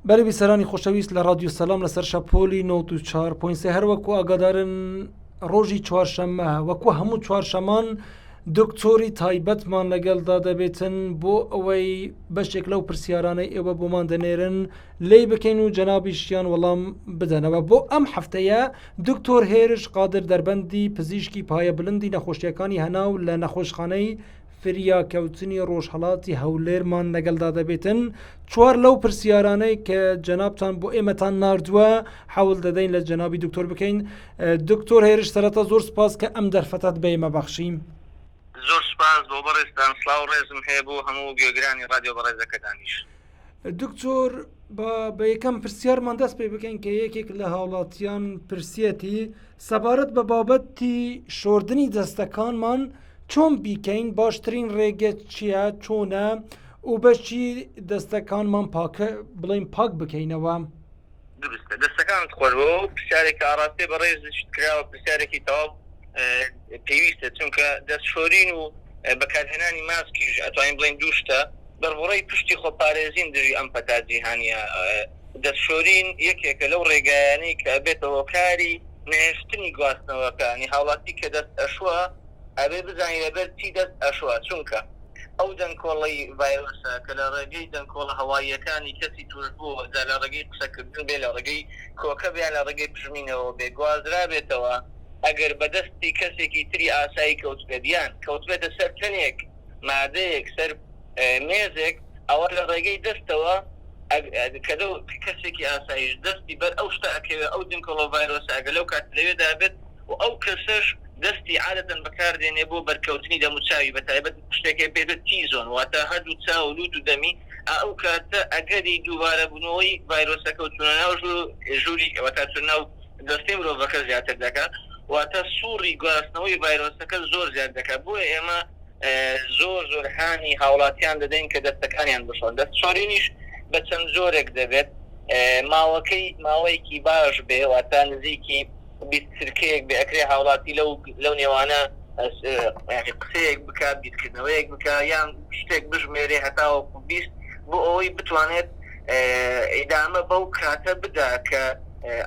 بەرە بیسەرانی خۆشەویست لە ڕادیو سەلام لەسەر شەپۆلی 94.3 هەروەکو ئاگادارن ڕۆژی چوارشەممە وەکو هەموو چوارشەمان دکتۆری تایبەتمان لەگەڵدا دەبێتن بۆ ئەوەی بەشێک لەو پرسیارانەی ئێوە بۆمان دەنێرن لی بکەین و جەنابیشیان وەڵام بدەنەوە بۆ ئەم هەفتەیە دکتۆر هێرش قادر دەربەندی پزیشکی پایە بلندی نەخۆشیەکانی هەناو لە نەخۆشخانەی فریاکەوتنی ڕۆژهەڵاتی هەولێرمان لەگەڵدا دەبێتن چوار لەو پرسیارانەی کە جەنابتان بۆ ئێمەتان نردووە حەول دەدەین لە جەنابی دکتۆر بکەین دکتۆر هێرش سەرەتا زۆر سپاس کە ئەم دەرفەتت بە ئێمە بەخشیم زۆر سپاس بۆ بەڕێزتان سلااو ڕێزم هەیە بۆ هەموو گوێگرانی رادیۆ بەڕێزەکەتانیش دکتۆر با بە یەکەم پرسیارمان دەست پێ بکەین کە یەکێک لە هاوڵاتیان پرسیەتی سەبارەت بە بابەتی شۆردنی دەستەکانمان چۆن بیکەین باشترین ڕێگە چییە چۆنە و بەشی دەستەکانمان پاکە بڵین پاک بکەینەوە. دروستە دەستەکانت خۆش بەوە پرسیارێک کە ئاڕاستەی بەڕێزشت کراوە پرسیارێکی تەواو پێویستە چونکە دەست شۆرین و بەکارهێنانی ماسکیش ئەتوانین بڵێن دوو شتە دەربڕەی پشتی خۆ پارێزین دژی ئەم پەتا جیهانیە دەست شۆرین یەکێکە لەو ڕێگایانەی کە بێتە هۆکاری نەهێشتنی گواستنەوەکانی هاوڵاتی کە دەست ئەشوە ئەبێ بزانین لەبەر چی دەست ئەشۆ، چونکە ئەو دەنکۆڵەی ڤایرۆسە کە لە ڕێگەی دەنکۆڵە هەواییەکانی کەسی تووشبووەوە، جا لە ڕێگەی قسەکردن بێ، لە ڕێگەی کۆکە بێ یان لە ڕێگەی پژمینەوە بێ گوازرابێتەوە، ئەگەر بە دەستی کەسێکی تری ئاسایی کەوتبێت یان کەوتبێتە سەر تەنێک، مادەیەک، سەر مێزێک، ئەوا لە ڕێگەی دەستەوە کە لەو کەسێکی ئاساییش دەستی بەر ئەو شتە ئەکەوێت، ئەو دنکۆڵە ڤایرۆسە ئەگەر لەو کاتە لەوێدا بێت، و ئەو کەسەش دەستی عادەتەن بەکاردێنێ بۆ بەرکەوتنی دەموو چاوی بەتایبەت شتێک هەیە پێێتە تی زۆن واتا هەردوو چاو و لوت و دەمی ئائەو کاتە ئەگەری دووبارە بونەوەی ڤایرۆسەکە و چونە ناو ژوور ژووری واتا چونە ناو جەستەی مرۆڤەکە زیاتر دەکا واتا سوڕی گواستنەوەی ڤایرۆسەکە زۆر زیاد دەکا بۆیە ئێمە زۆر زۆر هانی هاوڵاتیان دەدەین کە دەستەکانیان بشۆن دەست شۆرینیش بە چەند جۆرێک دەبێت ماوەکەی ماوەیەکی باش بێ واتا نزیکی. بیست چرکەیەک بێ ئەکرێ هاوڵاتی لەو لەو نێوانە یانی قسەیەک بکا بیرکردنەوەیەک بکا یان شتێک بژمێرێ هەتاوەکو بیست بۆ ئەوەی بتوانێت ئیدامە بەو کاتە بدا کە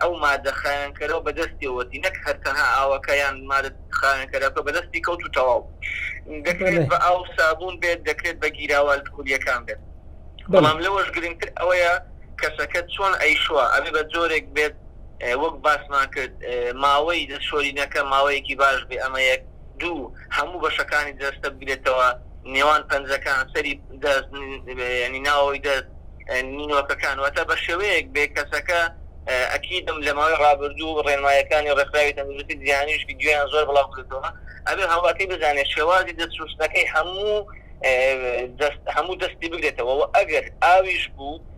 ئەو مادە خاوێنکەرەو بەدەستیەوەتی نەک هەر تەنها ئاوەکە یان مادە خاوێنکەرەکە بەدەستی کەوت و تەواو دەکرێت بە ئاو سابوون بێت دەکرێت بە گیراوە ئەلکهولیەکان بێت بەڵام لەوەش گرنگتر ئەوەیە کەسەکە چۆن ئەیشوا ئەبێ بە جۆرێک بێت وەک باسمان کرد ماوەی دەستشۆرینەکە ماوەیەکی باش بێ ئەمە یەک، دوو هەموو بەشەکانی جەستە بگرێتەوە نێوان پەنجەکان، سەری دەست، یانی ناوەوەی دەست، نینۆکەکان، واتە بە شێوەیەک بێ کەسەکە ئەکیدم لە ماوەی ڕابردوو ڕێنمایەکانی ڕێکخراوی تەندروستی جیهانیش ڤیدیۆیان زۆر بڵاو کردووە ئەبێ هاوڵاتی بزانێ شێوازی دەست شوستنەکەی هەموو هەموو دەستی بگرێتەوە و ئەگەر ئاویش بوو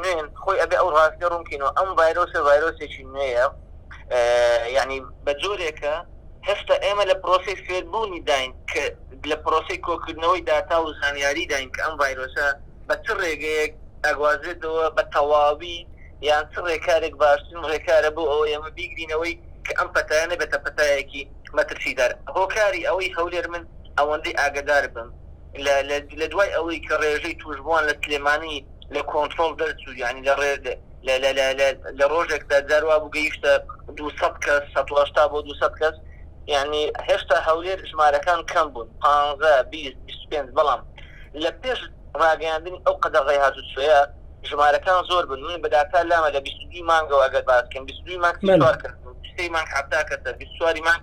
نوێن خۆی ئەبێ ئەو ڕاستیە ڕوون کەین و ئەم ڤایرۆسە ڤایرۆسێکی نوێیە یعنی بە جۆرێکە هێستا ئێمە لە پرۆسی فێربوونی داین کە لە پرۆسی کۆکردنەوەی داتا و زانیاری داین کە ئەم ڤایرۆسە بە چ ڕێگەیەک ئەگوازێتەوە بە تەواوی یان چ ڕێکارێک باشترین ڕێکارە بۆ ئەوە ئێمە بیگرینەوەی کە ئەم پەتایە نەبێتە پەتایەکی مەترسیدار هۆکاری ئەوەی هەولێر من ئەوەندەی ئاگدار بم لە دوای ئەوەی کە ڕێژەی تووشبووان لە سلێمانی لە کۆنترۆڵ دەرچوو، یانی لە ڕۆژێکدا جار وابوو گەیشتە دوو سەد کەس، سەد و هەشتا بۆ دوو سەد کەس، یانی هێشتا هەولێر ژمارەکان کەم بوون، پانزە، بیست، بیست و پێنج، بەڵام لە پێش ڕاگەیاندنی ئەو قەدەغەی هاتوچۆیە ژمارەکان زۆر بوون، من بە داتا لامە لە بیست و دووی مانگەوە ئەگەر باس بکەین، بیست و دووی مانگ سی و چوار کەس بوون، سێی مانگ حەفتا کەس، بیست و چواری مانگ.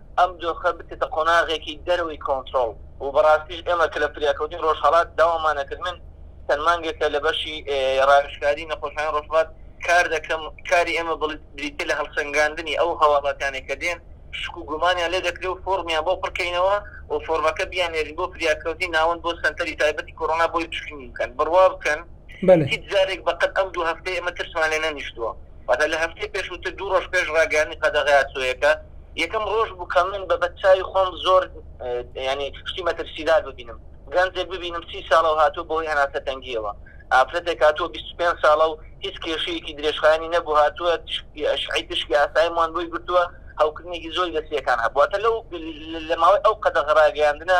ئەم دۆخە بچێتە قۆناغێکی دەرەوەی کۆنترۆڵ و بەڕاستیش ئێمە کە لە فریاکەوتنی ڕۆژهەڵات داوامان ئەکرد، من چەند مانگێکە لە بەشی ڕاوێژکاری نەخۆشخانەی ڕۆژهەڵات کار دەکەم، کاری ئێمە بریتییە لە هەڵسەنگاندنی ئەو هەواڵاتانەی کە دێن شک و گومانیان لێ دەکرێ و فۆڕمیان بۆ پڕ کەینەوە و فۆڕمەکە بیاننێرین بۆ فریاکەوتنی ناوەند بۆ سەنتەری تایبەتی کۆرۆنا بۆی پشکنین بکەن. بڕوا بکەن هیچ جارێک بە قەد ئەم دوو هەفتەی ئێمە ترسمان لێ نەنیشتووە. واتە لە هەفتەی پێشووتر دوو ڕۆژ پێش ڕاگەیاندنی قەدەغە یاسۆیەکە یەکەم ڕۆژ بوو کە من بە بەدچاوی خۆم زۆر یانی شتی مەترسیدار ببینم گەنجێک ببینم سی ساڵە و هاتووە بەهۆی هەناسە تەنگیەوە ئافرەتێک هاتووە 25 ساڵە و هیچ کێشەیەکی درێژخایەنی نەبوو هاتووە شعی تشکی ئاسایی موان بۆی گرتووە هەوکردنێکی زۆری لە سیەکان هەبووە لەو لە ماوەی ئەو قەدەغە ڕاگەیاندنە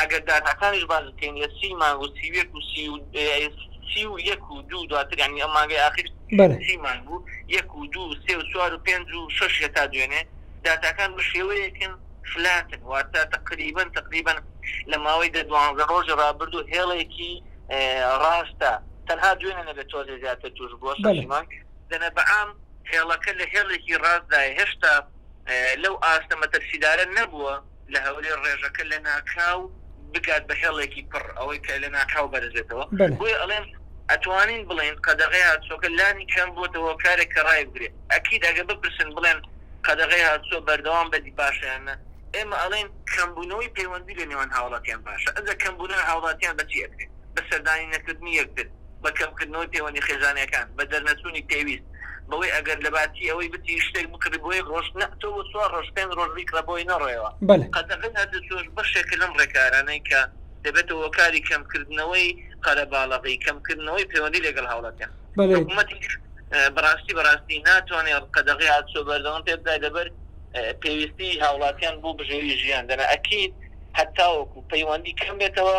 ئەگەر داتاکانیش باس بکەین لە سی مانگ و سی و یەک و سی و سی و یەک و دوو دواتر یانی ئەم مانگەی ئاخیر سی مانگ بوو یەک و دوو سێ و چوار و پێنج و شەش هەتا دوێنێ داتاکان بە شێوەیەکن فلاتن واتە تەقریبەن تەقریبەن لە ماوەی دە دوانزە ڕۆژی ڕابردوو هێڵێکی ڕاستە تەنها دوێنێ نەبێت تۆزێ زیاتر توش بووە شەش مانگ دەنە بەعام هێڵەکە لە هێڵێکی ڕاستدایە هێشتا لەو ئاستە مەترسیدارە نەبووە لە هەولێر ڕێژەکە لە ناکاو بگات بە هێڵێکی پڕ ئەوەی کە لە ناکاو بەرزێتەوە بۆیە ئەڵێم ئەتوانین بڵێن قەدەغەی هاتسۆکە لانی کەم بۆتە هۆکارێک کە ڕایبگرێت ئەکید ئەگە بپرسن بڵێن قەدەغەی هاتسۆ بەردەوام بەدی باشیانە ئێمە ئەڵێن کەمبوونەوەی پەیوەندی لە نێوان هاوڵاتیان باشە ئەگە کەمبوونە هاوڵاتیان بەچی ئەکرێت بە سەردانی نەکردنی یەکتر بە کەمکردنەوەی پەیوەندی خێزانیەکان، بە دەرنەچوونی پێویست، بەوەی ئەگەر لەباتی ئەوەی بتری شتێک بکڕی بۆ یەک ڕۆژ نا تۆ بۆ چوار ڕۆژ پێنج ڕۆژ بیکڕە بۆی نەڕۆیەوە. بەلێ. قەدەغەی هەردووچۆش بەشێکە لەم ڕێکارانەی کە دەبێتە هۆکاری کەمکردنەوەی قەرەباڵغی، کەمکردنەوەی پەیوەندی لەگەڵ هاوڵاتیان. بەلێ. حکومەتیش بەڕاستی بەڕاستی ناتوانێ قەدەغەی هاتوچۆ بەردەوام پێ بدات لەبەر پێویستی هاوڵاتیان بۆ بژێوی ژیان، دەنا ئەکید هەتاوەکو پەیوەندی کەم بێتەوە،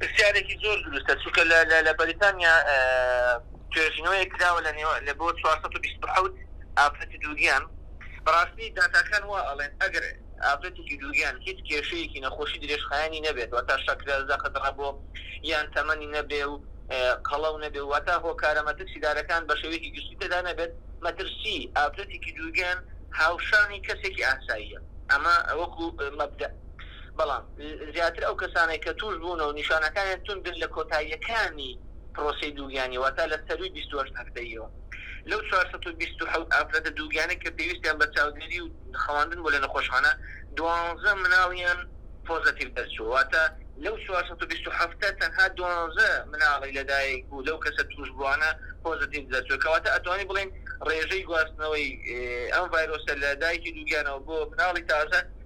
پرسیارێکی زۆر دروستە چونکە لە لە لە بەریتانیا توێژینەوەیەک کراوە لە نێوان لە بۆ چوار سەد و بیست و حەوت ئافرەتی دووگیان بەڕاستی داتاکان وا ئەڵێن ئەگەر ئافرەتێکی دووگیان هیچ کێشەیەکی نەخۆشی درێژخایەنی نەبێت واتە شەکرە زەخت ڕەبۆ یان تەمەنی نەبێ و قەڵەو نەبێ واتە هۆکارە مەترسیدارەکان بە شێوەیەکی گشتی تێدا نەبێت مەترسی ئافرەتێکی دووگیان هاوشانی کەسێکی ئاساییە ئەمە وەکو مەبدەئ بەڵام زیاتر ئەو کەسانەی کە تووشبوونە و نیشانەکانیان توندن لە کۆتاییەکانی پرۆسەی دووگیانی واتە لە سەرووی بیست و هەشت هەفتەییەوە. لەو چوار سەد و بیست و حەوت ئافرەتە دووگیانەی کە پێویستیان بە چاودێری و خەواندن بووە لە نەخۆشخانە، دوانزە مناڵیان پۆزەتیڤ دەرچووە، واتە لەو چوار سەد و بیست و حەفتە تەنها دوانزە مناڵی لەدایکبوو لەو کەسە تووشبووانە پۆزەتیڤ دەرچووە، کەواتە ئەتوانین بڵێین ڕێژەی گواستنەوەی ئەم ڤایرۆسە لە دایکی دووگیانەوە بۆ مناڵی تازە،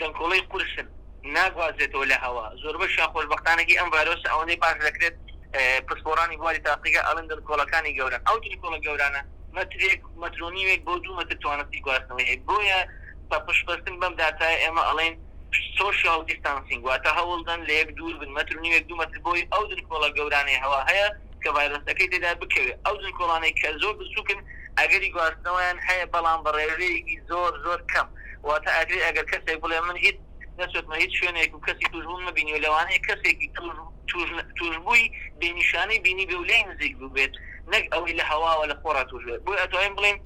دەنکۆڵەی قورسن ناگوازرێتەوە لە هەوا، زۆربەشیان خۆشبەختانەگەی ئەم ڤایرۆسە ئەوەندەی باش دەکرێت پسپۆڕانی بواری تاقیگە ئەڵێن دەنکۆڵەکانی گەورەن ئەو دەنکۆڵە گەورانە مەترێک مەتر و نیوێک بۆ دوو مەتر توانستی گواستنەوەی هەیە بۆیە بە پشتبەستن بەم داتایە ئێمە ئەڵێن سۆشیاڵ دیستانسینگ واتە هەوڵدەن لە یەک دوور بن مەتر و نیوێک دوو مەتر بۆی ئەو دەنکۆڵە گەورانەی هەوا هەیە کە ڤایرۆسەکەی تێدا بکەوێت ئەو دەنکۆڵانەی کە زۆر بچووکن ئەگەری گواستنەوەیان هەیە بەڵام بە ڕێژەیەکی زۆر زۆر کەم. واتە ئاگرێ ئەگەر کەسێک بڵێ من هیچ نەچۆتمە هیچ شوێنێک و کەسی تووشبووم نەبینیوە، لەوانەیە کەسێکی تووشبووی بێ نیشانەی بینیبێ و لێی نزیک بووبێت نەک ئەوەی لە هەواوە لە خۆڕا تووشبێت، بۆیە ئەتوانین بڵێین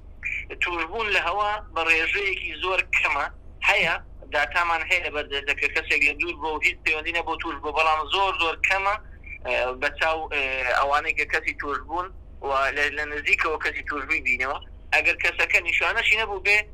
تووشبوون لە هەوا بە ڕێژەیەکی زۆر کەمە، هەیە داتامان هەیە لەبەر دەستە کە کەسێک لە دوور بووە و هیچ پەیوەندی نەبووە تووشبووە، بەڵام زۆر زۆر کەمە بە چاو ئەوانەی کە کەسی تووشبوون و لە نزیکەوە کەسی تووشبووی بینیوە ئەگەر کەسەکە نیشانەشی نەبووبێ.